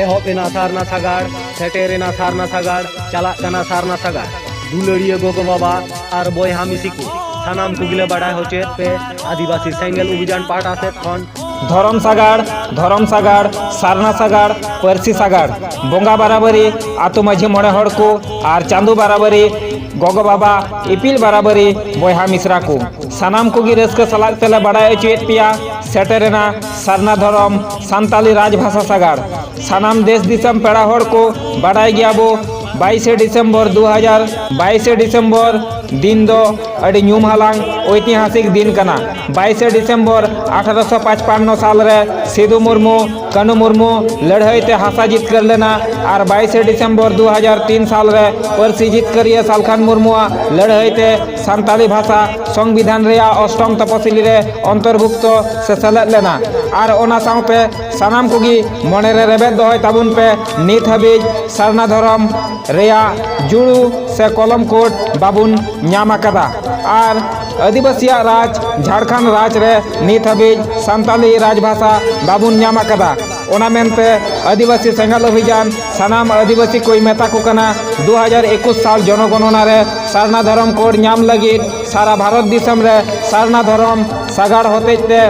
ᱮᱦᱚᱵ ᱮᱱᱟ ᱥᱟᱨᱱᱟ ᱥᱟᱜᱟᱲ ᱥᱮᱴᱮᱨ ᱮᱱᱟ ᱥᱟᱨᱱᱟ ᱥᱟᱜᱟᱲ ᱪᱟᱞᱟᱜ ᱠᱟᱱᱟ ᱥᱟᱨᱱᱟ ᱥᱟᱜᱟᱲ ᱫᱩᱞᱟᱹᱲᱤᱭᱟᱹ ᱜᱚᱜᱚ ᱵᱟᱵᱟ ᱟᱨ ᱵᱚᱭᱦᱟ ᱢᱤᱥᱤ ᱠᱚ ᱥᱟᱱᱟᱢ ᱠᱚᱜᱮᱞᱮ ᱵᱟᱰᱟᱭ ᱦᱚᱪᱚᱭᱮᱫ ᱯᱮ ᱟᱹᱫᱤᱵᱟᱹᱥᱤ ᱥᱮᱸᱜᱮᱞ ᱚᱵᱷᱤᱡᱟᱱ ᱯᱟᱦᱴᱟ ᱥᱮᱫ ᱠᱷᱚᱱ ᱫᱷᱚᱨᱚᱢ ᱥᱟᱜᱟᱲ ᱫᱷᱚᱨᱚᱢ ᱥᱟᱜᱟᱲ ᱥᱟᱨᱱᱟ ᱥᱟᱜᱟᱲ ᱯᱟᱹᱨᱥᱤ ᱥᱟᱜᱟᱲ ᱵᱚᱸᱜᱟ ᱵᱟᱨᱟᱵᱟᱹᱨᱤ ᱟᱛᱳ ᱢᱟᱹᱡᱷᱤ ᱢᱚᱬᱮ ᱦᱚᱲ ᱠᱚ ᱟᱨ ᱪᱟᱸᱫᱳ ᱵᱟᱨᱟᱵᱟᱹᱨᱤ ᱜᱚᱜᱚ ᱵᱟᱵᱟ ᱤᱯᱤᱞ ᱵᱟᱨᱟᱵᱟᱹᱨᱤ ᱵᱚᱭᱦᱟ ᱢᱤᱥᱨᱟ ᱠᱚ ᱥᱟᱱᱟᱢ ᱠᱚᱜᱮ ᱨᱟᱹᱥᱠᱟᱹ ᱥᱟᱞᱟᱜ ᱛᱮᱞᱮ ᱵᱟᱰᱟᱭ ᱦᱚᱪᱚᱭᱮᱫ ᱯᱮᱭᱟ ᱥᱮᱴᱮᱨᱮᱱᱟ ᱥᱟᱨᱱᱟ ᱫᱷᱚᱨᱚᱢ ᱥᱟᱱᱛᱟᱞᱤ ᱨᱟᱡᱽ ᱵᱷᱟᱥᱟ ᱥᱟᱜᱟᱲ ᱥᱟᱱᱟᱢ ᱫᱮᱥ ᱫᱤᱥᱚᱢ ᱯᱮᱲᱟ ᱦᱚᱲ ᱠᱚ ᱵᱟᱰᱟᱭ ᱜᱮᱭᱟ ᱵᱚ ᱵᱟᱭᱤᱥᱮ ᱰᱤᱥᱮᱢᱵᱚᱨ ᱫᱩ ᱦᱟᱡᱟᱨ ᱵᱟᱭᱤᱥᱮ ᱰᱤᱥᱮᱢᱵᱚᱨ ᱫᱤᱱ ᱫᱚ ᱟᱹᱰᱤ ᱧᱩᱢ ᱦᱟᱞᱟᱝ ᱳᱭᱛᱤᱦᱟᱥᱤᱠ ᱫᱤᱱ ᱠᱟᱱᱟ ᱵᱟᱭᱤᱥᱮ ᱰᱤᱥᱮᱢᱵᱚᱨ ᱟᱴᱷᱟᱨᱚᱥᱚ ᱯᱟᱸᱪᱯᱟᱱᱱᱚ ᱥᱟᱞ ᱨᱮ ᱥᱤᱫᱩ ᱢᱩᱨᱢᱩ ᱠᱟᱹᱱᱩ ᱢᱩᱨᱢᱩ ᱞᱟᱹᱲᱦᱟᱹᱭ ᱛᱮ ᱦᱟᱥᱟ ᱡᱤᱛᱠᱟᱹᱨ ᱞᱮᱱᱟ ᱟᱨ ᱵᱟᱭᱤᱥᱮ ᱰᱤᱥᱮᱢᱵᱚᱨ ᱫᱩ ᱦᱟᱡᱟᱨ ᱛᱤᱱ ᱥᱟᱞ ᱨᱮ ᱯᱟᱹᱨᱥᱤ ᱡᱤᱛᱠᱟᱹᱨᱤᱭᱟᱹ ᱥᱟᱞᱠᱷᱟᱱ ᱢᱩᱨᱢᱩᱣᱟᱜ ᱞᱟᱹᱲᱦᱟᱹᱭ ᱛᱮ ᱥᱟᱱᱛᱟᱞᱤ ᱵᱷᱟᱥᱟ ᱥᱚᱝᱵᱤᱫᱷᱟᱱ ᱨᱮᱭᱟᱜ ᱚᱥᱴᱚᱢ ᱛᱚᱯᱚᱥᱤᱞᱤ ᱨᱮ ᱚᱱᱛᱚᱨᱵᱷᱩᱠᱛᱚ ᱥᱮ ᱥᱮᱞᱮᱫ ᱞᱮᱱᱟ ᱟᱨ ᱚᱱᱟ ᱥᱟᱶᱛᱮ ᱥᱟᱱᱟᱢ ᱠᱚᱜᱮ ᱢᱚᱱᱮᱨᱮ ᱨᱮᱵᱮᱫ ᱫᱚᱦᱚᱭ ᱛᱟᱵᱚᱱ ᱯᱮ ᱱᱤᱛ ᱦᱟᱹᱵᱤᱡ ᱥᱟᱨᱱᱟ ᱫᱷᱚᱨᱚᱢ ᱨᱮᱭᱟᱜ ᱡᱩᱲᱩ ᱥᱮ ᱠᱚᱞᱚᱢ ᱠᱳᱰ ᱵᱟᱵᱚᱱ ᱧᱟᱢ ᱟᱠᱟᱫᱟ ᱟᱨ ᱟᱹᱫᱤᱵᱟᱹᱥᱤᱭᱟᱜ ᱨᱟᱡᱽ ᱡᱷᱟᱲᱠᱷᱚᱸᱰ ᱨᱟᱡᱽ ᱨᱮ ᱱᱤᱛ ᱦᱟᱹᱵᱤᱡ ᱥᱟᱱᱛᱟᱞᱤ ᱨᱟᱡᱽ ᱵᱷᱟᱥᱟ ᱵᱟᱵᱚᱱ ᱧᱟᱢ ᱟᱠᱟᱫᱟ ᱚᱱᱟ ᱢᱮᱱᱛᱮ ᱟᱹᱫᱤᱵᱟᱹᱥᱤ ᱥᱮᱸᱜᱮᱞ ᱚᱵᱷᱤᱡᱟᱱ ᱥᱟᱱᱟᱢ ᱟᱹᱫᱤᱵᱟᱹᱥᱤ ᱠᱚᱭ ᱢᱮᱛᱟ ᱠᱚ ᱠᱟᱱᱟ ᱫᱩ ᱦᱟᱡᱟᱨ ᱮᱠᱩᱥ ᱥᱟᱞ ᱡᱚᱱᱚᱜᱚᱱᱚᱱᱟ ᱨᱮ ᱥᱟᱨᱱᱟ ᱫᱷᱚᱨᱚᱢ ᱠᱳᱰ ᱧᱟᱢ ᱞᱟᱹᱜᱤᱫ ᱥᱟᱨᱟ ᱵᱷᱟᱨᱚᱛ ᱫᱤᱥᱚᱢ ᱨᱮ ᱥᱟᱨᱱᱟ ᱫᱷᱚᱨᱚᱢ ᱥᱟᱜᱟᱲ ᱦᱚᱛᱮᱡ ᱛᱮ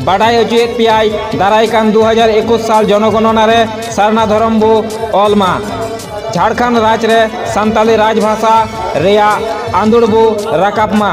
ᱵᱟᱰᱟᱭ ᱦᱚᱪᱚᱭᱮᱫ ᱯᱮᱭᱟᱭ ᱫᱟᱨᱟᱭ ᱠᱟᱱ ᱫᱩ ᱦᱟᱡᱟᱨ ᱮᱠᱩᱥ ᱥᱟᱞ ᱡᱚᱱᱚᱜᱚᱱᱚᱱᱟ ᱨᱮ ᱥᱟᱨᱱᱟ ᱫᱷᱚᱨᱚᱢ ᱵᱚ ᱚᱞ ᱢᱟ ᱡᱷᱟᱲᱠᱷᱚᱸᱰ ᱨᱟᱡᱽ ᱨᱮ ᱥᱟᱱᱛᱟᱞᱤ ᱨᱟᱡᱽ ᱵᱷᱟᱥᱟ ᱨᱮᱭᱟᱜ ᱟᱸᱫᱳᱲ ᱵᱚ ᱨᱟᱠᱟᱵ ᱢᱟ